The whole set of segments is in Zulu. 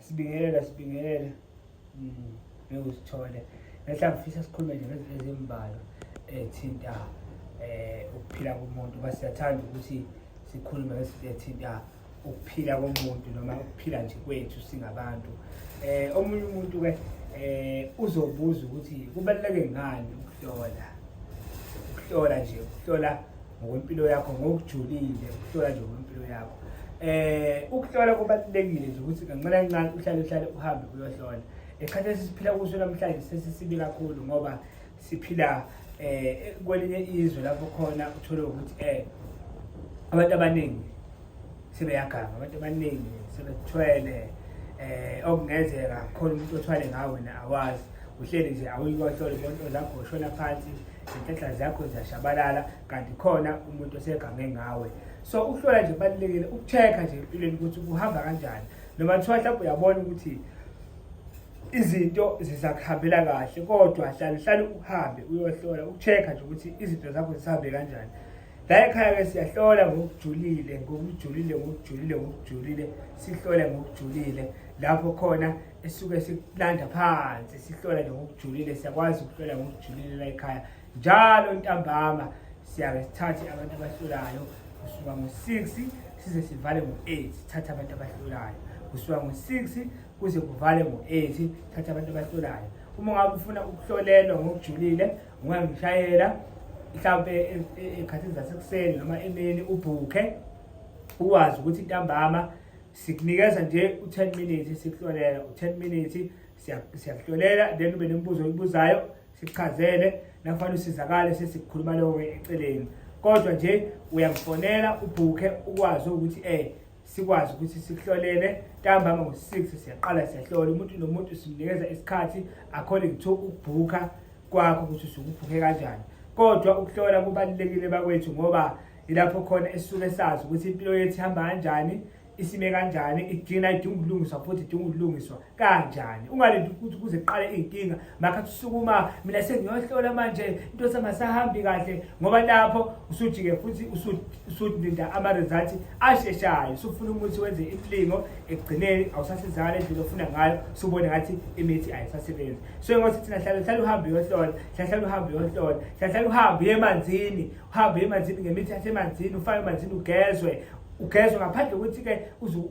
Sibingelela sibingelela. Mm. Ngiyosithole. Ngehla ngifisa sikhulume nje ngezinto ezimbalwa ethinta eh ukuphila komuntu. Basiyathanda ukuthi sikhulume ngezinto ethinta ukuphila komuntu noma ukuphila nje kwethu singabantu. Eh omunye umuntu ke eh uzobuza ukuthi kubaluleke ngani ukuhlola. Ukuhlola nje, ukuhlola ngokwempilo yakho ngokujulile ukuhlola nje ngokwempilo yakho eh ukuhlola kubalulekile nje ukuthi kancane kancane uhlale uhlale uhambe uyohlola esikhathini sesiphila kuso namhlanje sesisibi kakhulu ngoba siphila eh kwelinye izwe lapho khona uthole ukuthi eh abantu abaningi sebeyaganga abantu abaningi sebethwele eh okungenzeka khona umuntu othwale ngawe wena awazi uhleli nje awuyikwahlole bonto zakho ushona phansi zintetha zakho ziyashabalala kanti khona umuntu osegange ngawe so ukuhlola nje kubalulekile ukucheck-a nje empilweni ukuthi kuhamba kanjani noma kuthiwa mhlawumbe uyabona ukuthi izinto zisakuhambela kahle kodwa hlale hlale uhambe uyohlola ukucheck-a nje ukuthi izinto zakho zisahambe kanjani la ekhaya-ke siyahlola ngokujulile ngokujulile ngokujulile ngokujulile sihlole ngokujulile lapho khona esuke sikulanda phansi sihlole ngokujulile siyakwazi ukuhlola ngokujulile la ekhaya njalo ntambama siyabe sithathe abantu abahlolayo kusuka ngo-six size sivale ngo-eight sithathe abantu abahlolayo kusuka ngo-six kuze kuvale ngo-eight thatha abantu abahlolayo uma ngabe ufuna ukuhlolelwa ngokujulile ungangishayela mhlawumbe ekhathini zasekuseni noma emini ubhukhe uwazi ukuthi ntambama sikunikeza nje u-ten minutes sikuhlolela u-ten minutes siyakuhlolela then ube nemibuzo oyibuzayo sikuchazele nakufanele usizakale sesikukhuluma lokho-ke eceleni kodwa nje uyangifonela ubhukhe ukwazi ukuthi um sikwazi ukuthi sikuhlolele ntambama ngo-six siyaqala siyahlola umuntu nomuntu simnikeza isikhathi according to ukubhukha kwakho ukuthi usukubhukhe kanjani kodwa ukuhlola kubalulekile bakwethu ngoba ilapho khona esisuke sazi ukuthi impilo yethu ihamba kanjani isime kanjani idina idinga ukulungiswa futhi idinga ukulungiswa kanjani ungalindi ukuthi kuze kuqale iy'nkinga makhathi usukuma mina sengiyohlola manje into samasahambi kahle ngoba lapho usuthi-ke futhi usulinda ama-results asheshayo usufuna umuthi wenze imilingo ekugcineni awusasizakala endlela ofuna ngayo usubone ngathi imithi ayisasebenzi so ngothi thina hlale hlale uhambe uyohlola hlale hlale uhambe uyohlola hlale hlale uhambe uye emanzini uhambe emanzini ngemithi yasemanzini ufake emanzini ugezwe ugezwe ngaphandle kokuthi-ke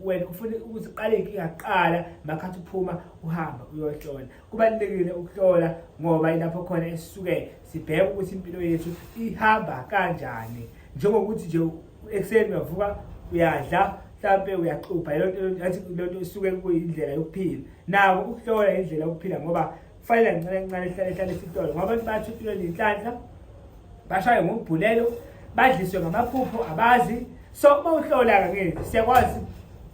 wena ufune ukuthi uqale inkinga kuqala makhathi uphuma uhamba uyohlola kubalulekile ukuhlola ngoba ilapho khona esisuke sibheke ukuthi impilo yethu ihamba kanjani njengokuthi nje ekuseni uyavuka uyadla mhlampe uyaxubha leyonto athi lento isuke kuyindlela yokuphila nako ukuhlola indlela yokuphila ngoba kufanele kancane kancane sihlale hlale isitolo ngoba abantu bathuthiwe nenhlanhla bashaye ngokubhulelo badliswe ngamaphupho abazi so uma uhlola-ke ngezi siyakwazi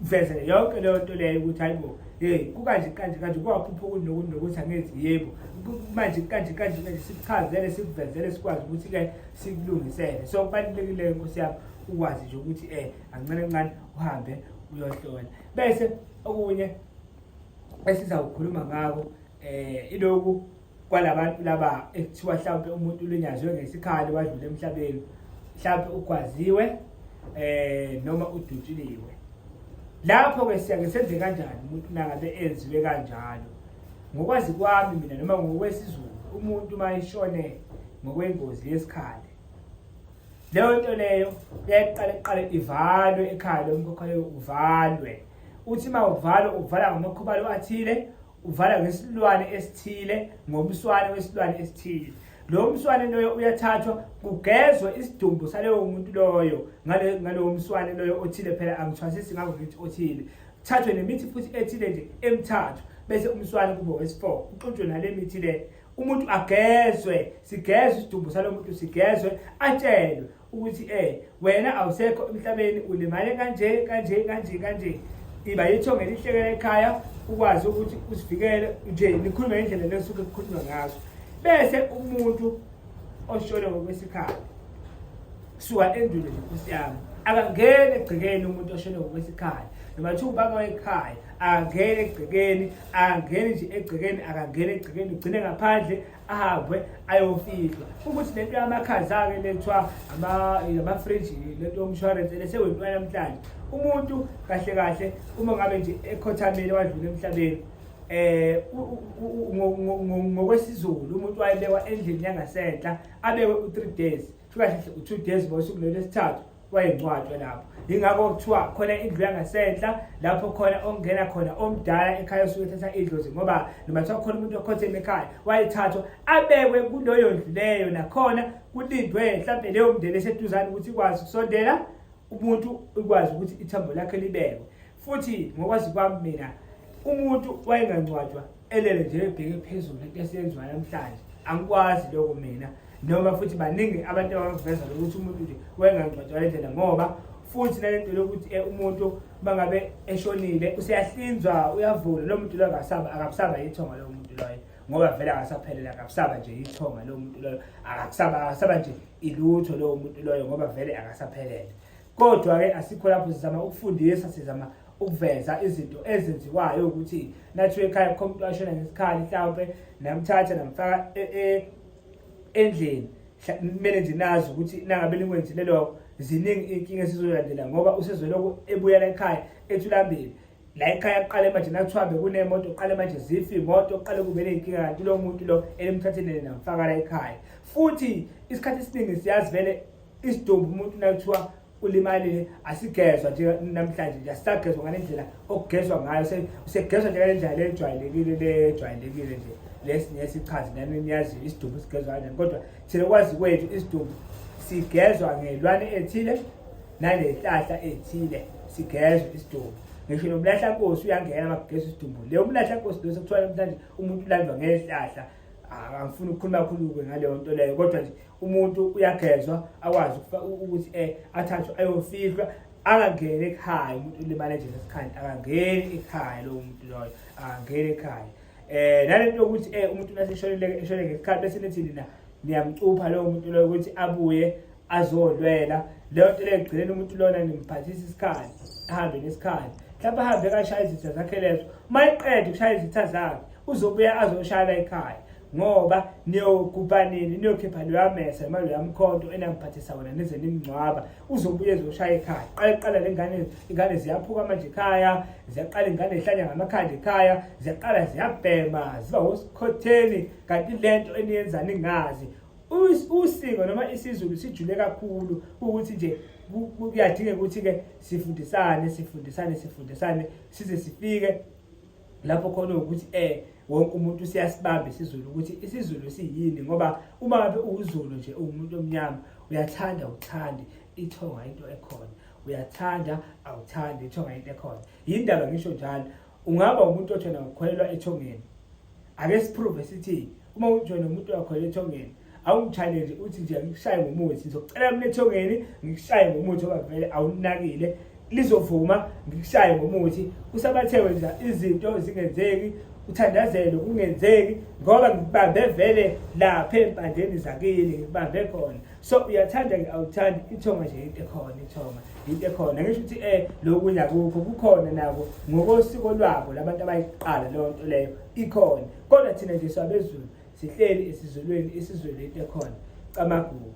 ukuvezela yonke leyo nto leyo ukuthi hayi bo hey kukanje kanje kanje kwaphupha ukuthi nokuthi nokuthi angenzi yebo manje kanje kanje kanje sikuchazele sikuvezele sikwazi ukuthi-ke sikulungisele so kubalulekile nkosi yami ukwazi nje ukuthi um eh, ancane ncane uhambe uyohlola bese okunye esizawukhuluma ngako eh iloku kwalabantu laba ekuthiwa mhlawumbe umuntu ulinyazwe ngesikhali wadlula emhlabeni mhlawumbe ugwaziwe eh noma udutshiliwe lapho ke siyake senze kanjani umuntu nangabe enziwe kanjalo ngokwazi kwami mina noma ngokwesizulu umuntu uma eshone ngokwengozi yesikhali leyo nto leyo yaqala iqale ivalwe ekhaya lomkhokhayo uvalwe Uthi uma uvala uvala ngamakhubalo athile, uvala ngesilwane esithile, ngomswane wesilwane esithile. Lo mswane loyo uyathathwa kugezwe isidumbu saleyo muntu loyo ngale ngalowo mswane loyo othile phela angithwasisi ngakho ngithi othile. Thathwe nemithi futhi ethile nje emithathu bese umswane kube wesi-4 uxutshwe nale mithi le umuntu agezwe sigezwe isidumbu salomuntu sigezwe atshelwe ukuthi eh wena awusekho emhlabeni ulimale kanje kanje kanje kanje iba yitho ngelihlekela ekhaya ukwazi ukuthi usivikele nje nikhulume ngendlela lesuke kukhulunywa ngazo bese umuntu oshone ngokwesikhathi kusuka endulo nje nkosi yami akangeni egcekeni umuntu oshone ngokwesikhathi noma kuthiwa ubaba wekhaya akangeni egcekeni akangeni nje egcekeni akangeni egcekeni ugcine ngaphandle ahambe ayofihla ukuthi lento yamakhaza-ke le kuthiwa amafriji lento yomshwarense le sewentwana namhlanje umuntu kahle kahle uma ngabe nje ekhothameni wadlula emhlabeni eh ngokwesizulu umuntu wayebekwa endlini yangasenhla abekwe u3 days kuthiwa kahle u-two days ago usuku lolwesithathu wayengcwatshwa lapho yingakho kuthiwa khona indlu yangasenhla lapho khona ongena khona omdala ekhaya osuke ethatha idlozi ngoba noma kuthiwa khona umuntu okhotheme ekhaya wayethathwa abekwe kuloyo ndlu leyo nakhona kulindwe mhlawumbe leyo mndeni eseduzane ukuthi ikwazi ukusondela umuntu ikwazi ukuthi ithambo lakhe libekwe futhi ngokwazi kwami mina umuntu wayengangcwatshwa elele nje ebheke phezulu into esiyenziwa namhlanje angikwazi lokho mina noma futhi baningi abantu abangiveza lokuthi umuntu nje wayengangcwatshwa le ndlela ngoba futhi nale nto lokuthi eh, umuntu bangabe eshonile useyahlinzwa uyavula lo muntu loyo akabusaba yithonga lowo muntu loyo ngoba vele akasaphelele akabusaba nje yithonga lowo muntu loyo akabusaba akasaba nje ilutho lowo muntu loyo ngoba vele akasaphelele Kodwa-ke asikho lapho sizama ukufundisa sizama ukuveza izinto ezenziwayo ukuthi nathi ekhaya kukho umuntu washona ngesikhali mhlawumpe namthatha namfaka e, e, endlini kumele nje nazi ukuthi nangabe linkwenzile lokho ziningi iy'nkinga esizolandela ngoba usezolokhu ebuyela ekhaya ethulambili la ekhaya kuqale manje nakuthiwa bekunemoto kuqale manje zife imoto kuqale kube ney'nkinga kanti lo muntu lo elimthathelele namfaka la ekhaya futhi isikhathi esiningi siyazi vele isidumbu umuntu nakuthiwa ulimalile asigezwa nje namhlanje nje asisagezwa ngale ndlela okugezwa ngayo usegezwa nje ngale ndlela le ejwayelekile le ejwayelekile nje lesi nesichazi nami niyaziyo isidumbu sigezwa kanjani kodwa thina kwazi kwethu isidumbu sigezwa ngelwane ethile nangenhlahla ethile sigezwe isidumbu ngisho nomlahla nkosi uyangena makugeza isidumbu le umlahla nkosi lo sekuthiwa namhlanje umuntu ulandwa ngezihlahla angifuni ukukhuluma kakhulu-ke ngaleyo nto leyo kodwa nje umuntu uyagezwa akwazi ukuthi um athathwe ayofihlwa angangeni ekhaya umuntu ulimale nje ngesikhathi akangeni ekhaya lowo muntu loyo akangeni ekhaya um nale nto yokuthi um umuntu naseshonele ngesikhathi bese nithi nina niyamcupha lowo muntu loyo ukuthi abuye azolwela leyo nto leyo ekugcineni umuntu lona nimphathisa isikhathi ahambe nesikhathi mhlawumbe ahambe kashaya izitha zakhe lezo uma eqeda ukushaya izitha zakhe uzobuya azoshayela ekhaya ngoba niyogubha nini niyokhipha loya mesa noma loya mkhonto enamphathisa wona nize nimngcwaba uzobuye ezoshaya ekhaya qale qala le ngane ingane ziyaphuka manje ekhaya ziyaqala ingane ihlanya ngamakhanda ekhaya ziyaqala ziyabhema ziba wosikhotheni kanti le nto eniyenza ningazi usiko noma isizulu sijule kakhulu ukuthi nje kuyadingeka ukuthi-ke sifundisane sifundisane sifundisane size sifike lapho khona ukuthi um wonke umuntu siyasibamba isizulu ukuthi isizulu siyini ngoba uma ngabe uwuzulu nje uwumuntu omnyama uyathanda uthande ithonga into ekhona uyathanda awuthandi ithonga into ekhona yindaba ngisho njalo ungaba umuntu othena ukholelwa ethongeni ake siprove sithi uma ujoyine umuntu wakho ethongeni awungi-challenge uthi nje ngikushaye ngomuthi ngizocela mina ethongeni ngikushaye ngomuthi oba vele awunakile lizovuma ngikushaye ngomuthi usabathewe nje izinto zingenzeki uthandazelo kungenzeki ngoba ngibambe vele lapha empandeni zakini ngibambe khona so uyathanda ke awuthandi ithonga nje into ekhona ithonga into ekhona ngisho ukuthi eh lokunya kukho kukhona nabo ngokosiko lwabo labantu abayiqala leyo nto leyo ikhona kodwa thina nje swabezulu sihleli esizulweni isizwe lento ekhona camagugu